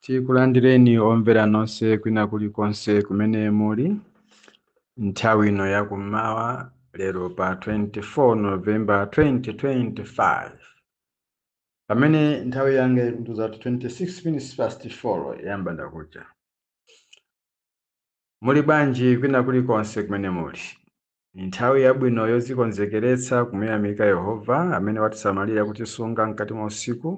tikulandireni omvera nonse kwina kulikonse kumene muli nthawi ino yakummawa lero pa 24 novemba 2025 pamene nthawi yanga ikutiuza kuti 26 minutes past 4 ya mbandakucha muli bwanji kwina kulikonse kumene muli Ndi nthawi yabwino yodzikonzekeretsa kumuyamika Yehova amene watisamalira kutisunga mkati mwa usiku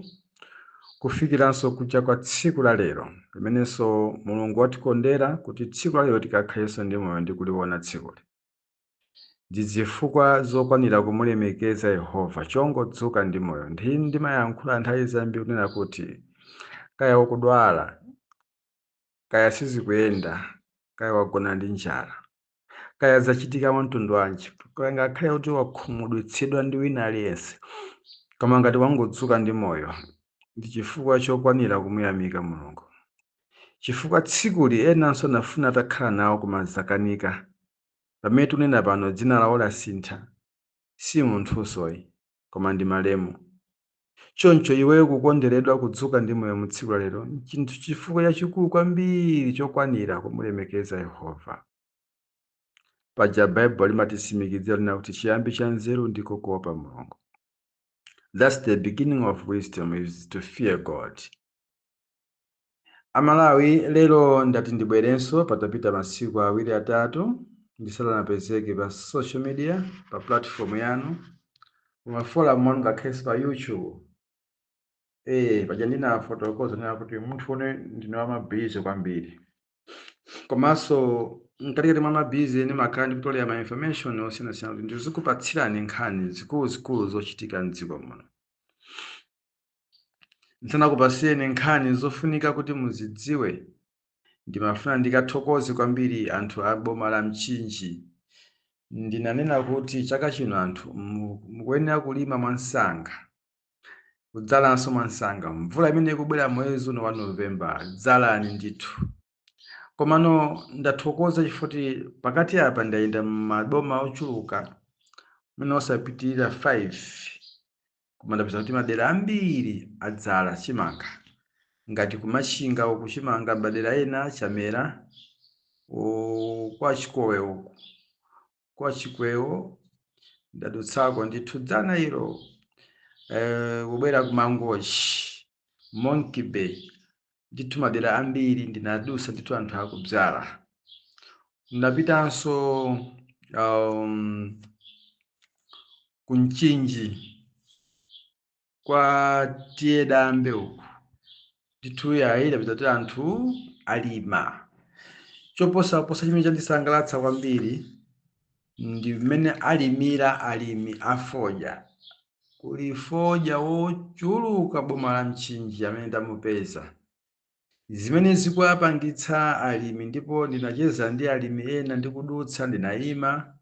kufikiranso kucha kwa tsiku la lero, limenenso Mulungu watikondera kuti tsiku la lero tikakhalenso ndi moyo ndi kuliona tsikuli. Ndi zifukwa zokwanira kumulemekeza Yehova chongodzuka ndi moyo. Ndimayankhula nthawi zambiri kunena kuti, kaya ukudwala, kaya sizikuyenda, kaya wagona ndi njala, kaya zachitika mwa mtundu wanji kaya ngakhale kuti wakhumudwitsidwa ndi wina aliyense koma ngati wangodzuka ndi moyo ndi chifukwa chokwanira kumuyamika mulungu chifukwa tsikuli enanso anafuna atakhala nawo koma zakanika pamene tunena pano dzina lawo lasintha si munthunso ayi koma ndi malemu. Choncho iweyo kukonderedwa kudzuka ndi moyo mu tsiku la lero n'chinthu chifukwa chachikulu kwambiri chokwanira kumulemekeza Yehova. Paja Baibulo limatitsimikizira kunena kuti chiyambi cha nzeru ndiko kuopa Mulungu. That's the beginning of wisdom is to fear God. amalawi lero ndati ndibwerenso patapita masiku awiri atatu ndisanapezeke pa social media pa platform yanu m'maforum mwanu ngakhalenso pa youtube eh paja ndinafotokoza nena kuti munthune ndine wamabizi kwambiri komanso mkatikati mwa mabizi ndimakhala ndikutolera ma information osiyanasiyana kuti ndizikupatsirani nkhani zikuluzikulu zochitika mdziko muno Ndisanakupatsireni nkhani zofunika kuti muzidziwe, ndimafuna ndikathokoze kwambiri anthu a boma la Mchinji. Ndinanena kuti chaka chino anthu mu- mukuyenera kulima mwansanga, kudzalanso mwansanga. Mvula imene ikubwera mwezi uno wa November, dzalani ndithu. komano ndathokoza chifukwa choti pakati apa ndayenda mumaboma ochuluka mwina osapitirira 5 koma ndapeza kuti madera ambiri adzala chimanga ngati ku machinga uku chimanga madera ena chamera u- kwa chikwewo uku kwa Chikwewo ndadutsako ndithu dzana ilo eh, kubwera ku Mangochi Monkey Bay ndithu madera ambiri ndinadutsa ndithu anthu akubzala ndapitanso um, ku Mchinji kwa tiye dambe uku ndithu yayi ndapeza kuti anthu alima choposaposa chimene chandisangalatsa kwambiri ndi mmene alimira alimi afodya kuli fodya wochuluka boma la mchinji amene ndamupeza zimene zikuwapangitsa alimi ndipo ndinacheza ndi alimi ena ndikudutsa ndinayima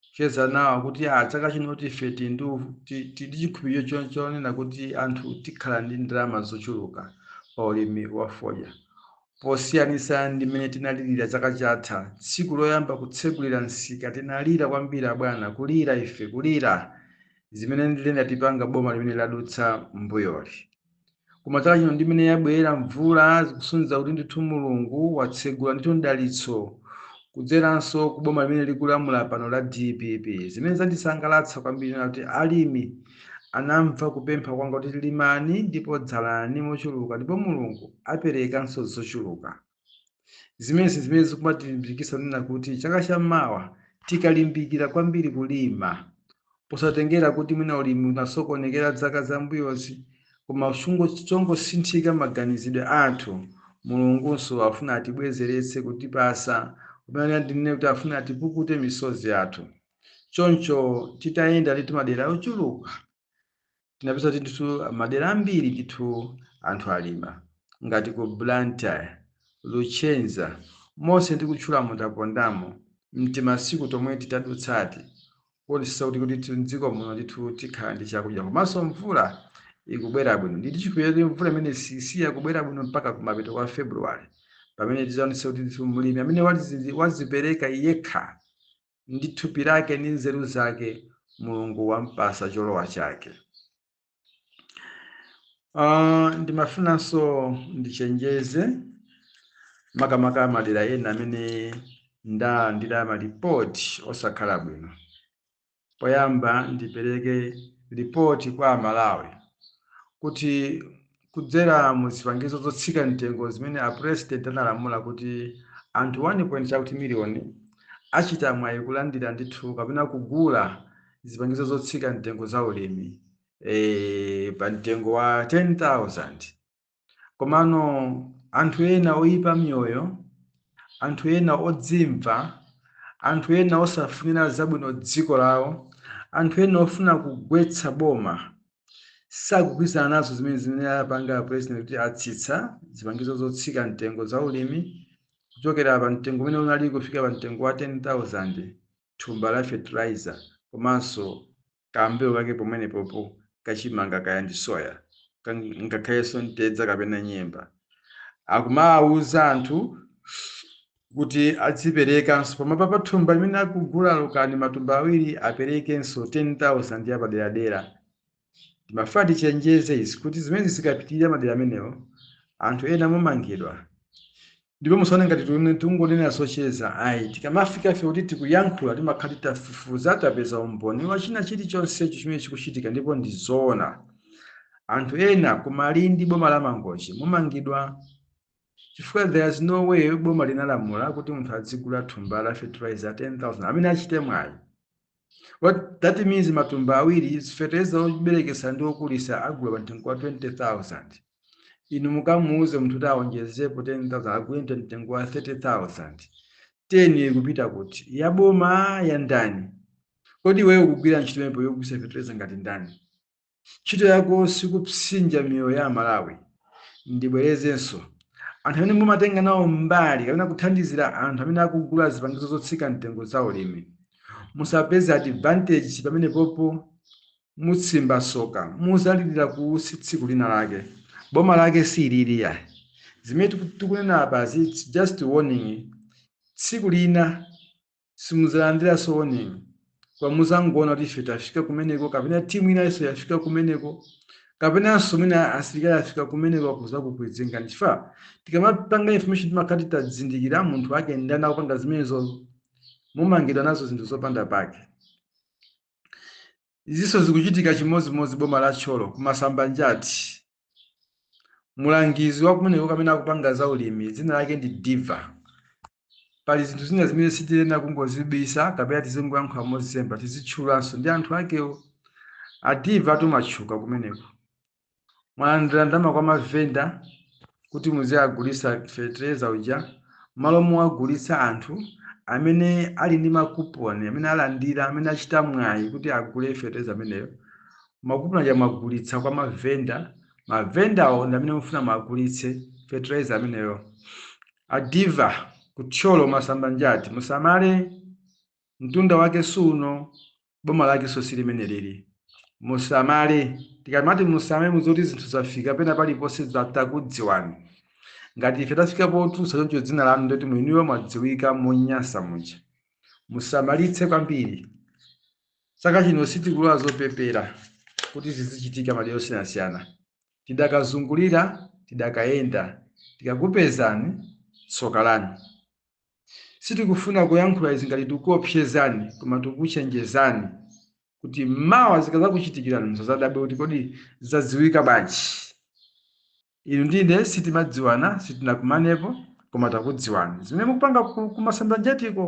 kucheza nawo kuti a chaka chino tife tili ndi u- ti- tili ndi chikhulupiriro cho- chonena kuti anthu tikhala ndi ndalama zochuluka pa ulimi wa fodya posiyanitsa ndi mmene tinalirira chaka chatha tsiku loyamba kutsegulira msika tinalira kwambiri abwana kulira ife kulira zimene linatipanga boma limene ladutsa mbuyoli koma chaka chino ndi mmene yabwera mvula zikusonyeza kuti ndithu mulungu watsegula ndithu mdalitso kudzeranso ku boma limene likulamula pano la dpp zimene zandisangalatsa kwambiri n'nakuti alimi anamva kupempha kwanga kuti limani ndipo dzalani mochuluka ndipo mulungu aperekanso zochuluka zimenezi zimene zikumatilimbikitsa kunena kuti chaka cha mawa tikalimbikira kwambiri kulima posatengera kuti mwina ulimi unasokonekera dzaka zambuyozi koma chongosinthika maganizidwe athu mulungunso afuna atibwezeretse kutipasa pamene ndinene kuti afuna atipukute misozi yathu choncho titayenda ndithu madera ochuluka tinapeza kuti ndithu madera ambiri ndithu anthu alima ngati ku Blantyre, Luchenza monse ndikutchulamu tapondamo mtimasiku tomwe titadutsati kuonetsa kuti kuti tu- m'dziko muno ndithu tikhala ndi chakudya komanso mvula ikubwera bwino ndili chikhulupiriro kuti mvula imene sisiya kubwera bwino mpaka kumapeto kwa February pamene tizaonetsa kuti ndithu mlimi amene wazi- wazipereka yekha ndi thupi lake ndi nzeru zake mulungu wampasa cholowa chake Ah, ndimafunanso ndichenjeze makamaka madera ena amene ndalandira malipoti osakhala bwino poyamba ndipereke ripoti kwa amalawi kuti kudzera mu zipangizo zotsika mtengo zimene a President analamula kuti anthu 1 point chakuti million achita mwayi kulandira ndithu kapena kugula zipangizo zotsika mtengo za ulimi e, pa mtengo wa 10,000 komano anthu ena oyipa miyoyo anthu ena odzimva anthu ena osafunira zabwino dziko lawo anthu ena ofuna kugwetsa boma sakugwirizana nazo zimene zimene apanga president kuti atsitsa zipangizo zotsika mtengo za ulimi kuchokera pa mtengo umene unali kufika pa mtengo wa 10000 thumba la fertilizer komanso kambewu kake pamenepopo kachimanga kaya ndi soya kang- ngakhalenso ntedza kapena nyemba akumawuza anthu kuti adziperekanso pamwamba pa thumba limene akugula olo kani matumba awiri aperekenso 10,000 ya paderadera timafuna tichenjeze izi kuti zimene zikapitirira madera amenewo anthu ena mumangidwa ndipo musaone ngati tione- tikungonena zocheza ayi tikamafika fe kuti tikuyankhula timakhala titafufuza tapeza umboni wa china chilichonsecho chimene chikuchitika ndipo ndi zoona anthu ena ku Malindi boma la Mangochi mumangidwa chifukwa there's no way boma linalamula kuti munthu adzigula thumba la fertilizer 10000 amene achite mwayi what that means matumba awiri fertilizer oberekesa ndi okulisa agula pa mtengo wa 20000 inu mukamuuze munthu kuti aonjezepo 10000 agule ndi mtengo wa 30000 teni ikupita kuti ya boma ya ndani kodi iweyo kugwira ntchito imenepo yogulisa fertilizer ngati ndani ntchito yako sikupsinja miyoyo ya amalawi ndibwerezenso anthu amene mumatenga nawo mbali kapena kuthandizira anthu amene akugula zipangizo zotsika mtengo za ulimi musapeze advantage pamenepopo mutsimba soka muzalilira kuusi tsiku lina lake boma lake si ili iyayi zimene tiku- tikunena apazi it's just warning tsiku lina simudzalandiranso warning koma muzangoona kuti ife tafika kumeneko kapena timu inanso yafika kumeneko kapenanso mwina asilikali afika kumeneko kuzakukwizingani chifukwa tikamapanga information timakhala titazindikira munthu wake ndani akupanga zimenezo mumangidwa nazo zinthu zopanda pake Izinso zikuchitika chimodzimodzi boma la Thyolo ku Masambanjati. Mulangizi wa kumeneko kamene akupanga za ulimi dzina lake ndi Diva. Pali zinthu zina zimene sitiyenera kungozibisa kapena tizingoyankhula mozemba, tizitchulanso ndi anthu akewo. A Diva tu mwatchuka kumeneko. mwalandira ndalama kwa mavenda kuti muzawagulitsa fetereza uja m'malo mowagulitsa anthu amene ali ndi makuponi amene alandira amene achita mwayi kuti agule fetereza ameneyo makuponi aja mwagulitsa kwa mavenda mavendawo ndi amene mufuna mwagulitse fetereza ameneyo a Diva ku Thyolo Masambanjati musamale mtunda wake suno boma lakenso si limene lili musamale tikamati musamale mudziwe kuti zinthu zafika pena paliponse za- takudziwani ngati ife tafika potulutsa choncho dzina lanu ndi loti mwiniwe mwadziwika monyansa muja musamalitse kwambiri chaka chino sitikulola zopepera kuti zizichitika madera osiyanasiyana tidakazungulira tidakayenda tikakupezani tsoka lanu Sitikufuna kuyankhula izi ngati tikukuopsezani koma tikukuchenjezani kuti mawa zikazakuchitikirani musazadabwe kuti kodi zadziwika bwanji. Inu ndi ine sitimadziwana, sitinakumanepo koma takudziwani. Zimene mukupanga ku Masambanjatiko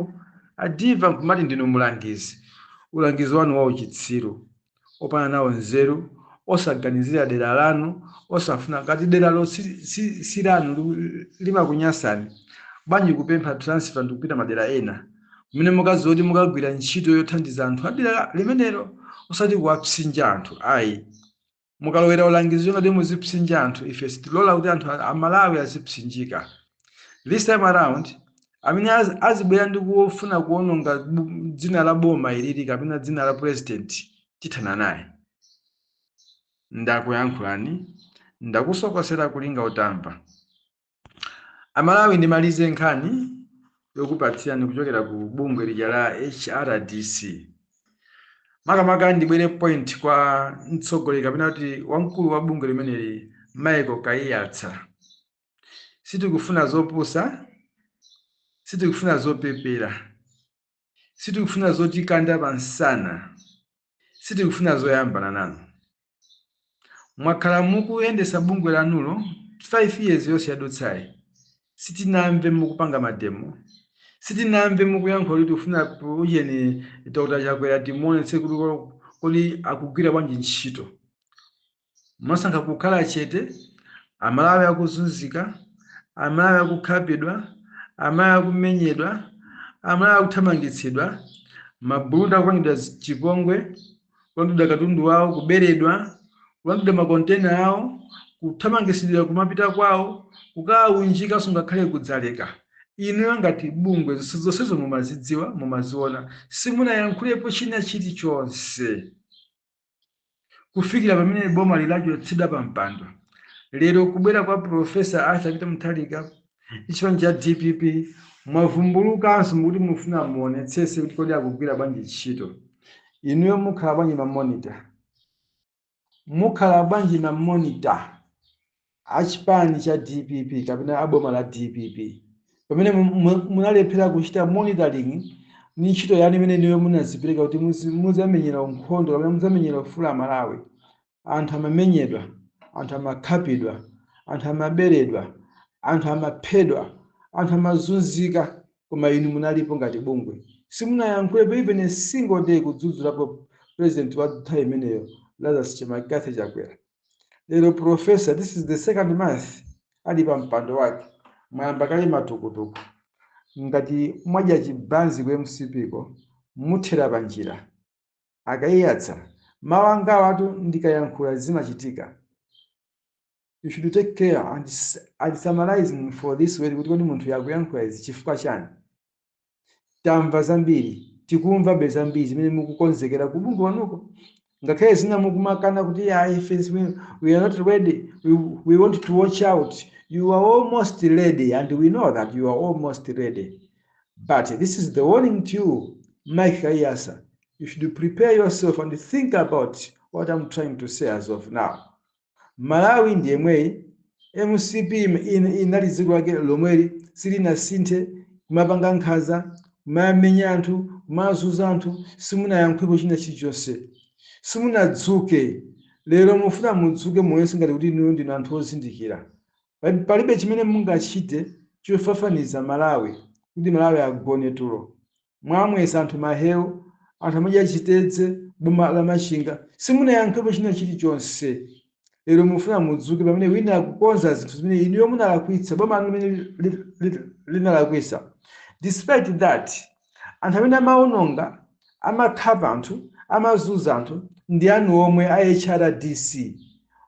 a Diva nkumati ndinu mulangizi. Ulangizi wanu wauchitsiru. opanda nawo nzeru, osaganizira dera lanu, osafuna ngati deralo si, si, si lanu liku- limakunyasani bwanji kupempha transfer ndikupita madera ena kumene mukadziwa kuti mukagwira ntchito yothandiza anthu adera limenelo osati kuwapsinja anthu ayi munkalowera ulangizi ngati muzipsinja anthu ife sitilola kuti anthu a- amalawi azipsinjika this time around amene az- azibwera ndi kufuna kuononga bu- dzina la boma ilili kapena dzina la president tithana naye ndakuyankhulani ndakusokosera kulinga utamva amalawi ndimalize nkhani yokupatsirani kuchokera ku bungwe lija la hrdc makamaka ndibwere point kwa mtsogoleri kapena kuti wamkulu wa bungwe limeneli michael kaiyatsa Sitikufuna zopusa, sitikufuna zopepera, sitikufuna zotikanda pa msana, sitikufuna zoyambana nanu. Mwakhala mukuyendesa bungwe lanulo 5 years yonse yadutsayi, sitinamve mukupanga mademo, sitinamve mukuyankhula kuti tikufuna ujeni Dr Chakwera timuonetsetse kuti kodi akugwira bwanji ntchito. Mwasankha kukhala chete, Amalawi akuzunzika, Amalawi akukhapidwa, Amalawi akumenyedwa, Amalawi akuthamangitsidwa, mabulunda akupangidwa chipongwe, kulandidwa katundu wawo, kuberedwa, kulandidwa ma container awo, kuthamangitsidwa kumapita kwawo, kukaunjikidwanso ngakhale ku Dzaleka. Inuyo ngati bungwe zonsezo mumazidziwa, mumaziona, simunayankhulepo china chilichonse. kufikira pamene boma lachotsedwa pa mpando lero kubwera kwa profesa arthur peter mutharika ndi chipani cha dpp mwavumbulukanso mukuti mufuna muonetsese kuti kodi akugwira bwanji ntchito inuyo mukhala bwanji mamonita mukhala bwanji mamonita a chipani cha dpp kapena a boma la dpp pamene mu- mu- munalephera kuchita monitoring ni ntchito yanu imene inuyo munazipereka kuti muzi- muzamenyera nkhondo kapena muzamenyera ufulu wa amalawi anthu amamenyedwa anthu amakhapidwa anthu amaberedwa anthu amaphedwa anthu amazunzika koma inu munalipo ngati bungwe simunayankhulepo even a single day kudzudzulapo president wa nthawi imeneyo lazarus mccarthy chakwera lero profesa this is the second month ali pa mpando wake mwayamba kale matukutuku ngati mwadya chibanzi ku mcp ko muthera panjira a kaiyatsa mawu angawatu ndikayankhula zimachitika you should take care and, s- and summarizing for this way kuti kodi munthu uyu akuyankhula izi chifukwa chani Tamva zambiri, tikumvabe zambiri zimene mukukonzekera ku bungwe kwanuko. Ngakhale zina mukumakana kuti ya ife zimene- we are not ready, we, we want to watch out. You are almost ready and we know that you are almost ready. But this is the warning to you, Mike Kaiyatsa. You should prepare yourself and think about what I'm trying to say as of now. Malawi ndi yemweyi, mcp inali dziko lake lomweli silinasinthe, kumapanga nkhanza, kumamenya anthu, kumazunza anthu, simunayankhulepo china chilichonse. Simunadzuke, lero mufuna mudzuke muonetse ngati kuti inuyo ndinu anthu ozindikira. Palibe chimene mungachite chofafaniza Malawi kuti Malawi agone tulo. mwamwetsa anthu maheu anthu amadya chitedze boma la Machinga simunayankhepo china chilichonse lero mufuna mudzuke pamene wina akukonza zinthu zimene inuyo munalakwitsa boma lanu limene li- li- li- linalakwitsa despite that anthu amene amaononga amakhapa anthu amazunza anthu ndi anu omwe a hrdc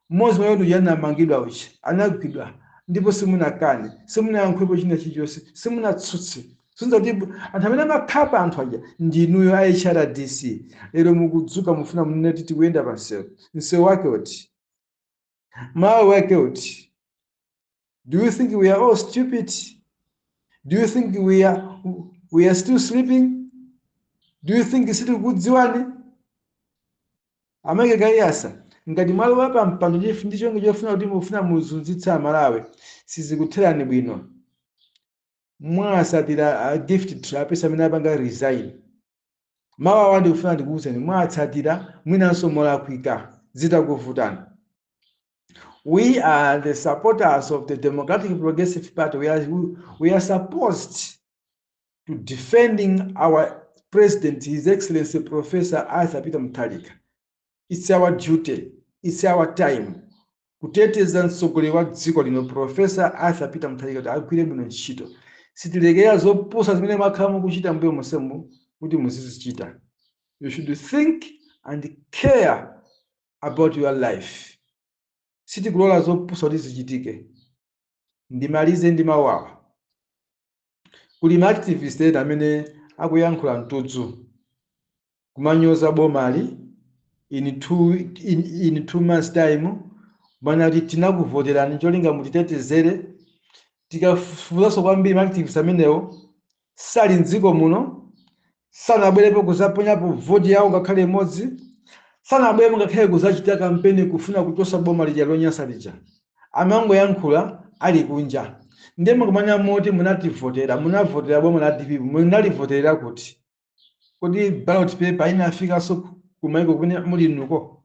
mmodzi mwa iwo anamangidwa uchi anagwidwa ndipo simunakane simunayankhulepo china chilichonse simunatsutse Zoti bu- anthu amene amakhapa anthu aja ndi inuyo a HRDC. Lero mukudzuka mufuna munene kuti tikuyenda pa msewu. Msewu wake uti? Malawi wake uti? Do you think we are all stupid? Do you think we are we are still sleeping? Do you think sitikukudziwani? A Mike Kaiyatsa ngati mwalowa pa mpando chifu ndi cholinga chofuna kuti mufuna muzunzitse amalawi sizikutherani bwino mwatsatira a gift trapence amene apanga resign mawu awa ndikufuna ndikuwuzeni mwatsatira mwinanso molakwika zitakuvutani we are the supporters of the democratic progressive party we are, we are supposed to defending our president his excellency professor arthur peter mutharika its our duty its our time kuteteza mtsogoleri wa dziko lino profesa arthur peter mutharika kuti agwire bwino ntchito sitilekera zopusa zimene mwakhala mukuchita mbuyo monsemu kuti muzizichita you should think and care about your life sitikulola zopusa kuti zichitike. Ndimalize ndi mawu awa. Kuli ma activist ena amene akuyankhula mtudzu kumanyoza bomali in two, in, in two months time mumanena kuti tinakuvoterani cholinga mutitetezere. Tikafufuzaso kwambiri ma activist amenewo sali m'dziko muno, sanabwerepo kuzaponyapo voti yawo ngakhale imodzi, sanabwerepo ngakhale kuzachita kampeni kufuna kuchosa boma lija lonyansa lija. Amangoyankhula ali kunja. Ndiye mukumanena moti munalivotera, munavotera boma la dpp, munalivoterera kuti? Kodi ballot paper inafikanso kumaiko kumene muli inuko?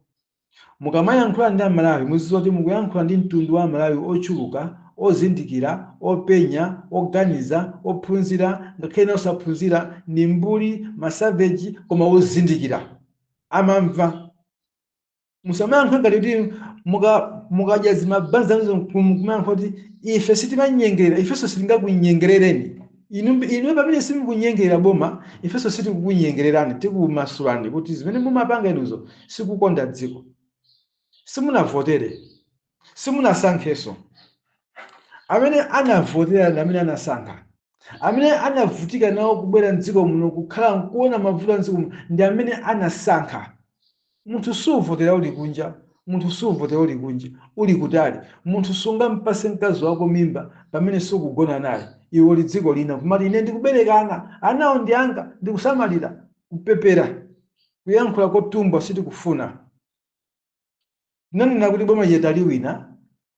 Mukamayankhula ndi Amalawi muzidziwa kuti mukuyankhula ndi mtundu wa Amalawi ochuluka, ozindikira, openya, oganiza, ophunzira, ngakhale ena osaphunzira, ndi mbuli, ma savage, koma ozindikira. Amamva. Musamayankhula ngati kuti muka mukadya zimabanzi zanuzo nkumayankhula kuti ife sitimanyengerera, ifenso sitingakunyengerereni. Inu, inu pamene simukunyengerera boma, ifenso sitikukunyengererani, tikumasulani kuti zimene mumapanga inuzo sikukonda dziko. Simunavotere, simunasankhenso. Amene anavotera ndi amene anasankha. Amene anavutika nawo kubwera m'dziko muno kukhala nkuona mavuto a m'dziko muno ndi amene anasankha. Munthu suvotera uli kunja, munthu suvotera uli kunja, uli kutali. Munthu sungampase mkazi wako mimba pamene sukugona naye. Iwe uli dziko lina, kumati ine ndikubereka ana, anawo ndi anga, ndikusamalira. Kupepera, kuyankhula kotumbwa sitikufuna. Tinanena kuti boma lija taliwina,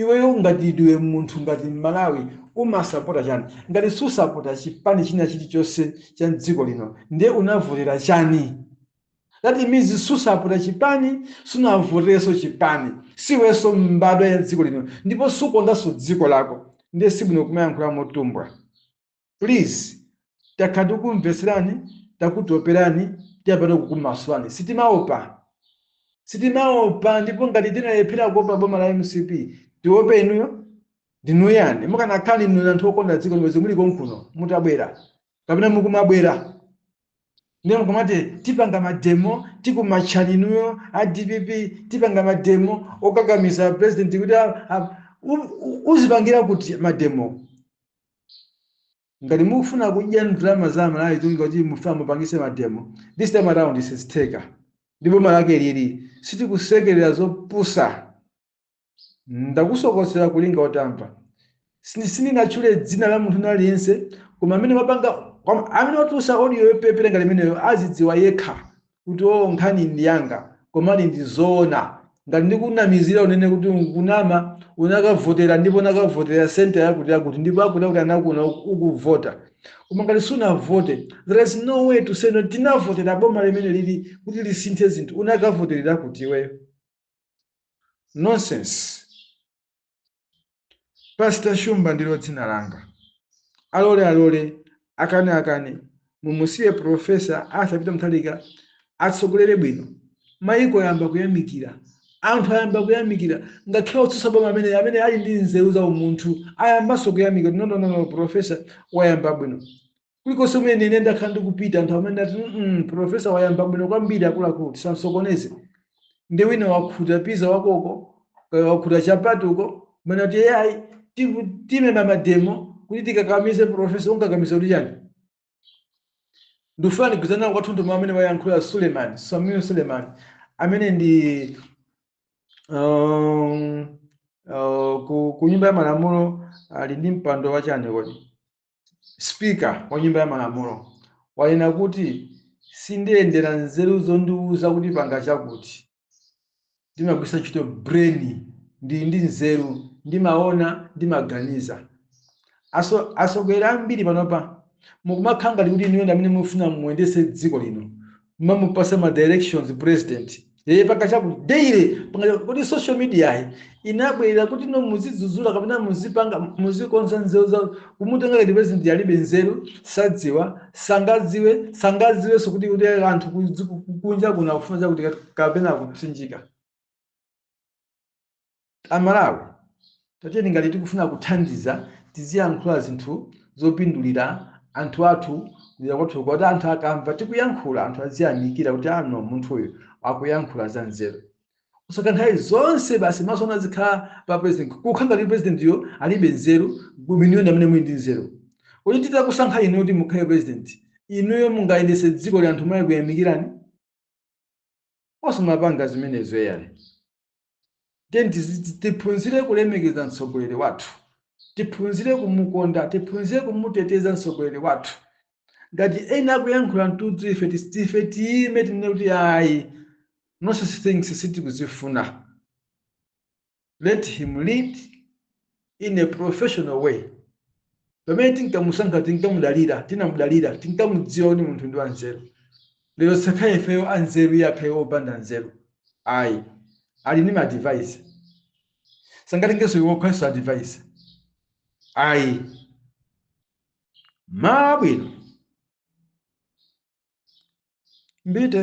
iweyo ngati ndiwe munthu ngati mmalawi umasapota chani ngati susapota chipani china chilichonse cha mdziko lino ndiye unavotera chani that means susapota chipani sunavoterenso chipani siwenso mbadwa ya dziko lino ndipo sukondanso dziko lako ndiye sibwino kumayankhula motumbwa please takhala tikukumvetserani takutoperani tiyambira kukumasulani sitimaopa sitimaopa ndipo ngati tinalephera kuopa boma la mcp tiope inuyo ndinuyani mukanakhala inu anthu okonda dziko lino bwenzi muli konkuno mutabwera kapena mukumabwera ndiye mukamati tipanga mademo tikumachani inuyo a dpp tipanga mademo okakamiza president kuti a- a- u- u- uzipangira kuti mademo Ngati mukufuna kudya ndalama za Amalawi kulinga kuti mufuna mupangise mademo, this time around sizitheka ndi boma lake ili, sitikusekelera zopusa. Ndakusokosera kulinga utamva. Sindinatchule dzina la munthu wina aliyense koma amene wapanga amene watulusa audio yopepera ngati imeneyo azidziwa yekha kuti oh nkhani ndi yanga koma ndi zoona ngati ndikunamizira unene kuti ukunama unakavotera ndipo unakavotera center yakuti yakuti ndipo akuti akuti anakuona uku- ukuvota koma ngati sunavote there is no way to say no tinavotera boma limeneli kuti lisinthe zinthu unakavoterera kuti iweyo nonsense Pastor Shumba ndilo dzina langa. Alole alole, akane akane, mumusiye Professor Arthur Peter Mutharika atsogolere bwino. Maiko ayamba kuyamikira, anthu ayamba kuyamikira, ngakhale otsutsa boma amene amene ali ndi nzeru za umunthu ayambanso kuyamikira. No, no, no, no, Professor wayamba bwino. kulikonse kumene ine ndakhala ndikupita anthu amene ati mm, profesa wayamba bwino kwambiri akuluakulu tisamsokoneze nde wina wakhuta piza wakeko kaya wakhuta chapati uko umene ati ai timeme mademo kuti tikakamize profesa ukumukakamiza kuti chani ndifuna ndigwirizane kwathunthu ndi amene wayankhula suleiman samuel suleiman amene ndi um, uh, ku, ku nyumba ya malamulo ali ndi mpando wachani kodi Speaker wa nyumba ya malamulo wanena kuti sindiyendera nzeru zondiuza kuti panga chakuti. Ndimagwiritsa ntchito brain, ndili ndi nzeru, ndimaona, ndimaganiza. Atsogoleri ambiri panopa mukumakhala ngati kuti inuyo ndi amene mufuna muyendetse dziko lino. mumamupatsa ma directions president yeye panga chakuti daily panga chakuti. kodi social media yi inabwera kuti no muzidzudzula kapena muzipanga muzikonza nzeru za kumutenga ngati president alibe nzeru sadziwa sangadziwe sangadziwenso kuti kuti anthu kuzi- kunja kuna kufuna chakuti kapena kupsinjika A Malawi tatiyeni ngati tikufuna kuthandiza tiziyankhula zinthu zopindulira anthu athu kudera kwathuko kuti anthu akamva tikuyankhula anthu aziyamikira kuti ah no munthuyu akuyankhula za nzeru. Osati nthawi zonse basi maso anu azikhala pa president kukhala ngati president yo alibe nzeru inuyo ndi amene muli ndi nzeru. Kodi titakusankhani inuyo kuti mukhale president inuyo mungayendetse dzikoli anthu nkukuyamikirani? Osamapanga zimenezo eyani. Tiyeni tizi- tiphunzire kulemekeza mtsogoleri wathu, tiphunzire kumukonda, tiphunzire kumuteteza mtsogoleri wathu. Ngati ena akuyankhula mtudzu ife tis- ife tiyime tinene kuti ayi nonsense things sitikuzifuna. let him lead in a professional way pamene tinkamusankha tinkamudalira tinamudalira tinkamudziwa kuti munthu ndi wanzeru lero sakhala ifeyo anzeru iye akhale opanda nzeru ayi ali ndi ma-advisor sangatengenso iwo kukhalanso advisor ayi malo abwino mbite